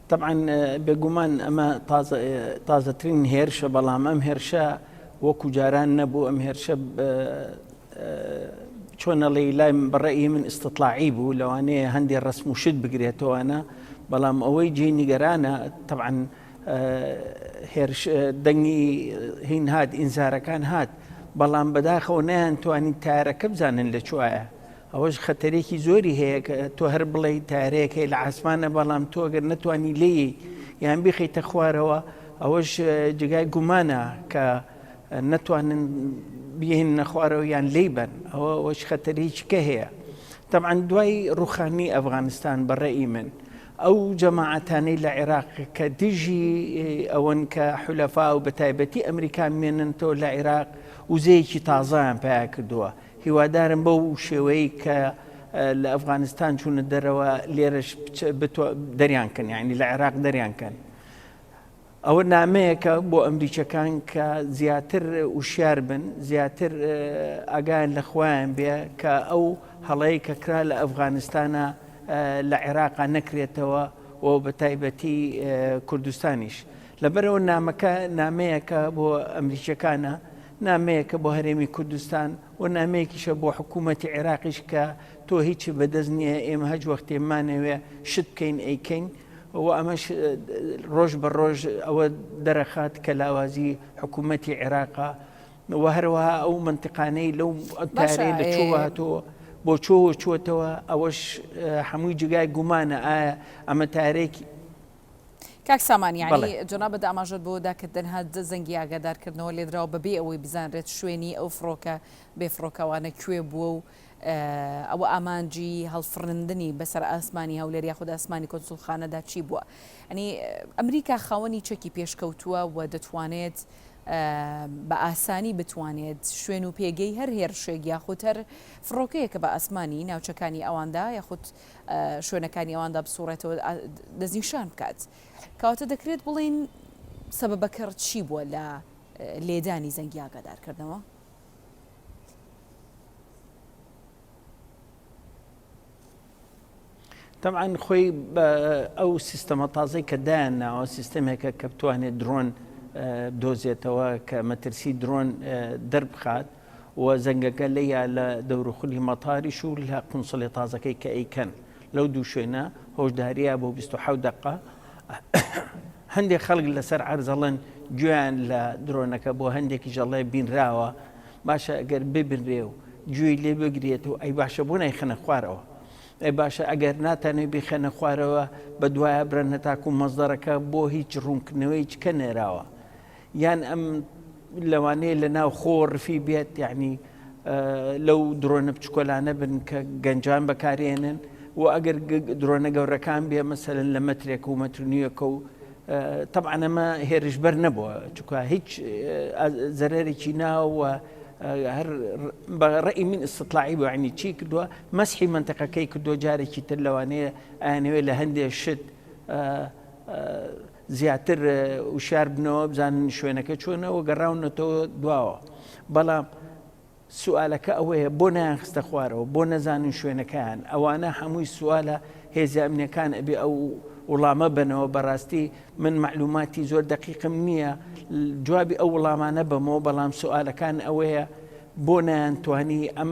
تەبعەن بێگومان ئەمە تازە تازەترین هێرشە بەڵام ئەم هێرشە وەکو جاران نەبوو ئەم هێرشە چۆنەڵی لای بەڕێی من ئستتلاعی بوو لەوانەیە هەندێک ڕسم و شت بگرێتەوەە بەڵام ئەوەی جێ نیگەرانە تەعاان دەنگی هین هاات ئینزارەکان هات بەڵام بەداخەوە نیان توانین تارەکە بزانن لە چوایە ئەوەش خەتەرێکی زۆری هەیە کە تۆ هەر بڵێی تارەیەک هەیە لە عاسمانە بەڵام تۆ گەر نەتوانی لێی یان بیخیتە خوارەوە ئەوەش جگای گومانە کە نەتوانن بیهن نەخوارەوە یان لی بن ئەوە ئەوەش خەتەرێکی کە هەیە طبعا دوای ڕوخانی ئەفغانستان بەڕێی من ئەو جەماعەتانەی لە عێراق کە دژی ئەوەن کە حولەفا و بە تایبەتی ئەمریکا مێننتەوە لە عێراق وزەیەکی تازایان پیا کردووە هیوادارم بەو شێوەیەی کە لە ئەفغانستان چوونە دەرەوە لێرەش دەریان کەن یعنی لە عێراق دەریان کەن ئەوە نامەیەکە بۆ ئەمریکەکان کە زیاتر وشیار بن زیاتر ئاگایان لە خۆیان بێ کە ئەو هەڵەیە کە کرا لە ئەفغانستانە لە عێراقا نەکرێتەوە و بە تایبەتی کوردستانیش لەبەرئەوە نامەکە نامەیەکە بۆ ئەمریکییەکانە، نامەیەکە بۆ هەرێمی کوردستان و نامەیەکیشە بۆ حکوومەتی عێراقیش کە تۆ هیچت بەدەست نییە، ئێمە هەچ وەختێ بمانەوێ شت بکەین ئەیکەین و ئەمەش ڕۆژ بە ڕۆژ ئەوە دەرەخات کە لاوازی حکوومەتی عێراقە و هەروەها ئەو مەنتقانەی لەو تارەیە لە چۆ هاتەوە. بۆ چۆوە چۆتەوە ئەوەش هەمووی جگای گومانە ئایا ئەمە تارێکی کاک سامان یانی جەنابت ئاماژەت بەوەدا کە تەنها دە زەنگی ئاگادارکردنەوە لێدراوە بەبێ ئەوەی بزانرێت شوێنی ئەو فڕۆکە بێ فڕۆکەوانە کوێ بووە و ئەوە ئامانجی هەڵفڕندنی بەسەر ئاسمانی هەولێر یاخود ئاسمانی کۆنسولخانەدا چی بووە ئەنی ئەمریکا خاوەنی چەکی پێشکەوتووە و دەتوانێت بە ئاسانی بتوانێت شوێن و پێگەی هەر هێرشێک یاخود هەر فڕۆکەیەکە بە ئاسمانی ناوچەکانی ئەواندا یاخود شوێنەکانی ئەواندا بسوڕێتەوە دەستنیشان بکات کەواتە دەکرێت بڵین سەبەکەڕ چی بووە لە لێدانی زەنگی ئاگادارکردنەوە تەعاان خۆی ئەو سیستەمە تازەی کە دایان ناوە سیستەمێکە کە بتوانێت درۆن دۆزێتەوە کە مەترسی درۆن دەربخات و زەنگەکە لێیا لە دەوروخولی مەتاریش و لە قونسڵێ تازەکەی کە ئەیکەن لەو دوو شوێنە هۆشداریە بۆ بیست و حەوت دەقە هەندێک خەڵک لەسەر عەرزەڵن گوێیان لە درۆنەکە بۆ هەندێکی ژەڵێ بینراوە باشە ئەگەر ببنرێ و گوێی لێ بگرێت و ئەی باشە بۆ نایخەنە خوارەوە ئەی باشە ئەگەر ناتانێ بیخەنە خوارەوە بە دوایە برەنە تاکو مەزدەرەکە بۆ هیچ ڕوونکردنەوەی چکە نێراوە یان ئەم لەوانەیە لە ناو خۆ رفی بێت یعنی لەو درۆنە بچکۆلانە بن کە گەنجان بەکارێنن و ئەگەر درۆنە گەورەکان بێ مەسەرن لە مەترێک و مەترنیەکە و تەعاەمە هێرشبەر نەبووە چکە هیچ زەرەرێکی ناوە هەر بە ڕێی من استطلاعی بەعنی چی کردووە مەسحی منتەقەکەی کردو جارێکی تر لەوانەیە ئەیانەوێت لە هەندێک شت زیاتر وشیار بنەوە بزانن شوێنەکە چۆنە و گەڕاونەتەوە دواوە بەڵام سوالەکە ئەوەیە بۆ نایان خستە خوارەوە بۆ نەزانن شوێنەکەیان ئەوانە هەمووی سوالە هێزیامنەکان ئەبێ ئەو وڵامە بنەوە بەڕاستی من معلوماتی زۆر دقیقم نییە جوابی ئەو وڵامانە بەمەوە بەڵام سوالەکان ئەوەیە بۆ نایان توانی ئەم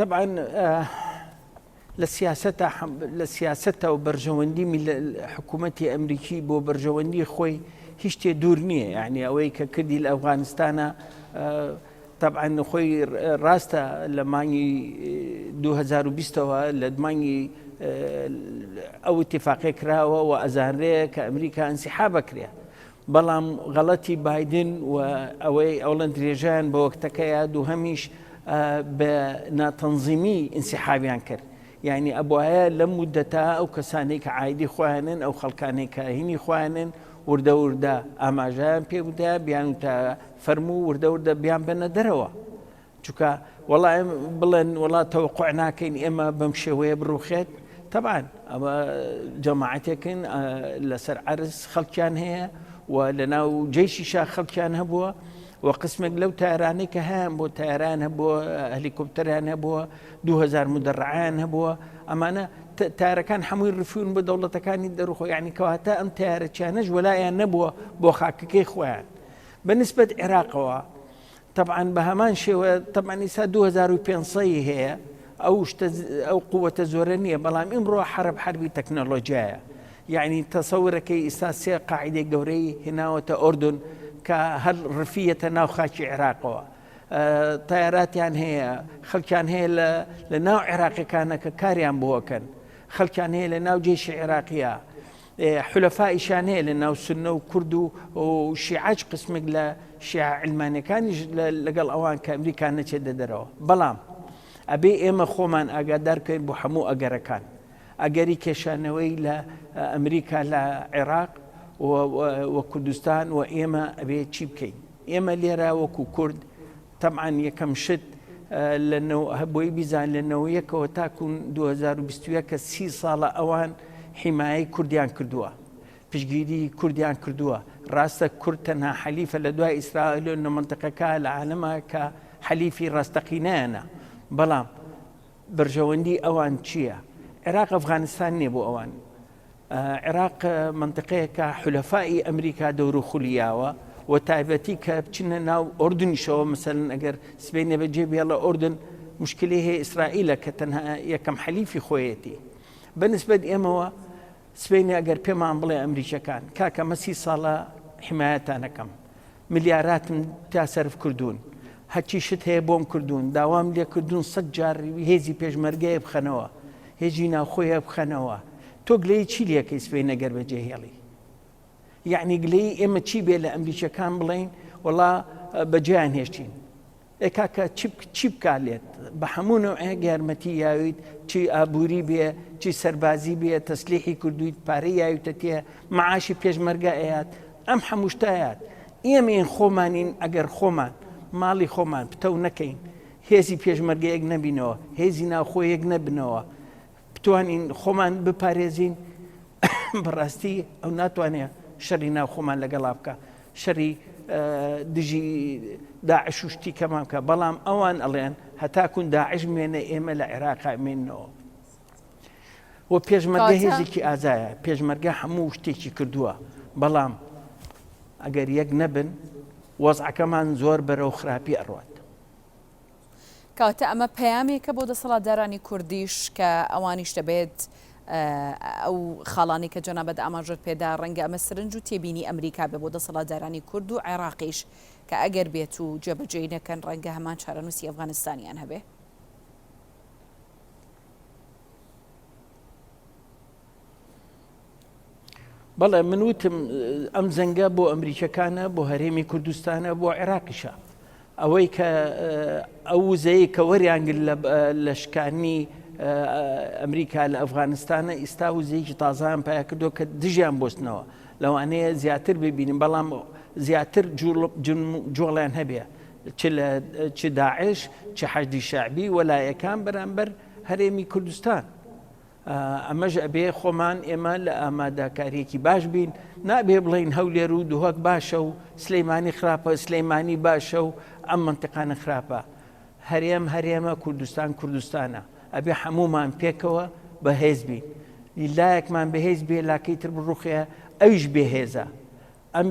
طبعا لە سیاست لە سیاستە و بەرژەوەندی حکوومەتتی ئەمریکی بۆ بەرژەوەندی خۆی هیشتێ دوور نییە یعنی ئەوەی کە کردی لە ئەفغانستانە طبعا خۆی ڕاستە لە مانگی 2020ەوە لە مانگی ئەو اتفاقێ کراوە و ئەزانرەیە کە ئەمریکا ئەنسیحا بکرێ بەڵام غەڵەتی بایدن و ئەوەی ئەوڵەن درێژەیان بە وەکتەکەیە دووهەمیش بە ناتەنزیمی ئینسیحابیان کرد یعنی ئەبوایە لەم مدەتە ئەو کەسانەی کە عایدی خۆیانن ئەو خەڵکانەی کە هینی خۆیانن وردە وردە ئاماژەیان پێ بدە بیان وتە فەرموو وردە وردە بیان بەنە دەرەوە چونکە وەڵا ئێمە بڵێن وەڵا تەوەقع ناکەین ئێمە بەم شێوەیە بڕوخێت تەبان ئەمە جەماعاتێکن لەسەر عرز خەڵکیان هەیە و لە ناو جێشی شا خەڵکیان هەبووە و قسمێک لەو تارانەی کە هەیان بۆ تاران هەبووە هەلیکۆپتەریان هەبووە 2000 مدەڕعیان هەبووە ئەمانە تارەکان هەمووی ڕفیون بە دەوڵەتەکانی دەرخۆ یعنی کەواتە ئەم تارەچانەش وەلایەن نەبووە بۆ خاکەکەی خۆیان بەنسبەت عێراقەوە تەبعەن بە هەمان شێوە تەبعەن ئیسا 2500 ی هەیە ئەو شتە ئەو قووەتە زۆرە نییە بەڵام ئیمڕۆ حرب حربی تەکنەلۆجیایە یعنی تەسەورەکەی ئیسا سێ قاعدەی گەورەی هێناوەتە ئۆردن کە هەر ڕفیەتە ناو خاکی عێراقەوە تایاراتیان هەیە خەڵکیان هەیە لە ناو عێراقیەکانە کە کاریان بۆکەن خەڵکیان هەیە لە ناو جێشی عێراقیە حولەفائیشیان هەیە لە ناو سوننە و کورد و شیعەش قسمێک لە شیعە علمانیەکانیش لەگەڵ ئەوان کە ئەمریکا نەچێتە دەرەوە بەڵام ئەبێ ئێمە خۆمان ئاگادار بکەین بۆ هەموو ئەگەرەکان ئەگەری کێشانەوەی لە ئەمریکا لە عێراق و کوردستان و ئێمە ئەبێ چی بکەین ئێمە لێرە وەکو کورد تەبعەن یەکەم شت لە نۆ بۆی بیزان لە نۆ یەکەوە تاکو 2021 کە سی ساڵە ئەوان حیمایەی کوردیان کردووە پشگیری کوردیان کردووە ڕاستە کورد تەنها حەلیفە لە دوای ئیسرائیل لە منتەقەکە لە عالەمە کە حەلیفی ڕاستەقینەیانە بەڵام بەرژەوەندی ئەوان چییە؟ عێراق ئەفغانستان نییە بۆ ئەوان عێراق مەنتقەیەکە حولەفائی ئەمریکا دەورو خولی یاوە وە تایبەتی کە بچنە ناو ئۆردنیشەوە مەسەلەن ئەگەر سبەینێ بە جێ بێڵە ئۆردن مشکلی هەیە ئیسرائیلە کە تەنها یەکەم حەلیفی خۆیەتی بە نسبەت ئێمەوە سبەینێ ئەگەر پێمان بڵێ ئەمریکیەکان کاکە مە سی ساڵە حمایەتانەکەم ملیاراتم تیا سەرف کردوون هەرچی شت هەیە بۆم کردوون داوام لێ کردوون سەد جار هێزی پێشمەرگەیە بخەنەوە هێزی ناوخۆیە بخەنەوە تۆ گلەیی چی لەکەی سبەینە گەر بەجێ هێڵی یعنی گلەیی ئێمە چی بێ لە ئەمریکیەکان بڵین وەڵا بەجێیان هێشتین ئێ کاکە چی بکا لێت بە هەموو نەوعێک یارمەتی یاویت چی ئابووری بێ چی سەربازی بێ تەسلیحی کردویت پارەی یاویتە تێ مەعاشی پێشمەرگە ئەیات ئەم هەموو شتە ئەیات ئێمەین خۆمانین ئەگەر خۆمان ماڵی خۆمان پتەو نەکەین هێزی پێشمەرگەیەک نەبینەوە هێزی ناوخۆیەک نەبنەوە بتوانین خۆمان بپارێزین بەڕاستی ئەو ناتوانێت شەری ناو خۆمان لەگەڵا بکە شەری دژی داعش و شتی کەمان بکە بەڵام ئەوان ئەڵێن هەتاکون داعش مێنە ئێمە لە عێراق مینەوە و پێشمەرگە هێزێکی ئازایە پێشمەرگە هەموو شتێکی کردووە بەڵام ئەگەر یەک نەبن وەزعەکەمان زۆر بەرەو خراپی ئەڕات کەواتە ئەمە پەیامێکە بۆ دەسەڵاتدارانی کوردیش کە ئەوانیش دەبێت ئەو خاڵانی کە جەنابەت ئاماژەت پێدا ڕەنگە ئەمە سرنج و تێبینی ئەمریکا بێ بۆ دەسەڵاتدارانی کورد و عێراقیش کە ئەگەر بێت و جێبەجێی نەکەن ڕەنگە هەمان چارەنووسی ئەفغانستانیان هەبێ. بەڵێ من وتم ئەم جەنگە بۆ ئەمریکەکانە بۆ هەرێمی کوردستانە بۆ عێراقیشە ئەوەی کە ئەو وزەیە کە وەریانگل لە شکانی ئەمریکا لە ئەفغانستانە ئیستا وزەیەکی تازان پیا کردو کە دژیان بستنەوە لەوانەیە زیاتر ببینین بەڵام زیاتر جۆڵیان هەبێ چ داعش چ حەجدی شعبی وەلایەکان بەرامبەر هەرێمی کوردستان ئەمەش ئەبێ خۆمان ئێمە لە ئامادەکاریەکی باش بین نابێ بڵین هەولێر و دوهک باشە و سلەیمانی خراپە سلەیمانی باشە و ئەم منتیقانە خراپە هەرێم هەرێمە کوردستان کوردستانە ئەبێ هەمومان پێکەوە بەهێز بین لایەکمان بەهێز بێ لاکەی تر بڕوخێ ئەویش بێهێزە ئەم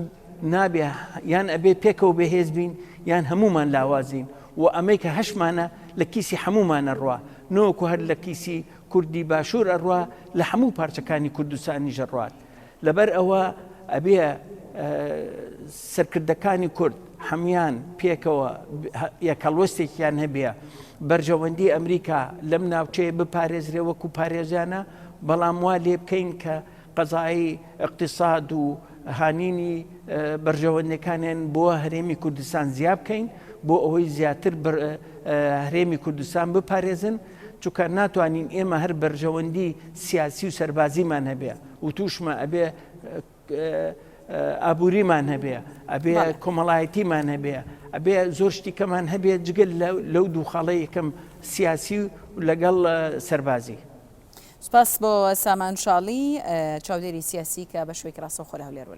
نابێ یان ئەبێ پێکەوە بەهێز بین یان هەمومان لاوازین و ئەمەی کە هەشمانە لە کیسی هەمومانە ڕوا نۆکو هەر لە کیسی کوردی باشوور ئەڕوا لە هەموو پارچەکانی کوردستانی ژەڕوات لەبەر ئەوە ئەبێ سەرکردەکانی کورد هەمان پێکەوە یەکەڵوەستێکیان هەبێ بەرژەوەندی ئەمریکا لەم ناوچەیە بپارێزرێ وەکو پارێزیانە بەڵام وا لێ بکەین کە قەزای ئیقتیساد و هانینی بەرژەوەندیەکانیان بۆ هەرێمی کوردستان زیا بکەین بۆ ئەوەی زیاتر هەرێمی کوردستان بپارێزن چونکە ناتوانین ئێمە هەر بەرژەوەندی سیاسی و سەربازیمان هەبێ و توشمە ئەبێ ئابووریمان هەبێ ئەبێ کۆمەڵایەتیمان هەبێ ئەبێ زۆر شتیکەمان هەبێ جگەل لەو دوو خاڵەیەکەم سیاسی و لەگەڵ سەربازی سوپاس بۆ سامان شاڵی چاودێری سیاسی کە بە شوێکی ڕاستەوخۆ لە هەولێر وەرەگرت.